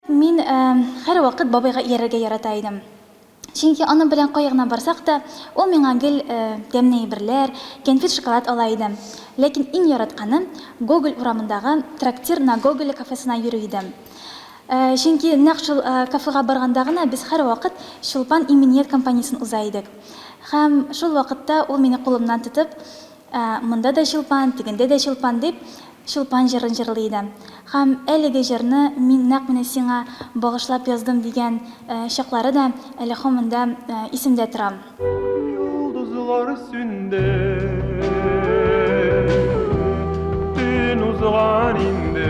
Мин ә, хәр вакыт бабайга иярергә ярата идем. Чөнки аның белән кая гына барсак та, ул миңа гел ә, тәмне әйберләр, кәнфит-шоколад ала иде. Ләкин иң яратканы, Гоголь урамындагы Трактир на Гоголя кафесына йөрү иде. Ә, чөнки нәкъ шул ә, кафега барганда гына без хәр вакыт Чулпан иминият кампаниясен уза идек. Һәм шул вакытта ул мине кулымнан тотып, Монда да чулпан, тегендә дә чулпан, дип, Чулпан җырын җырлый иде. Һәм әлеге җырны мин нәкъ менә сиңа багышлап яздым, дигән чаклары да әле һаман да исемдә тора. Йолдызлар сүнде, төн узган инде.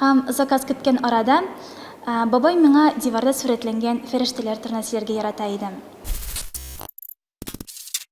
Һәм заказ көткән арада бабай миңа диварда сурәтләнгән фәрештәләр турына сөйләргә ярата иде.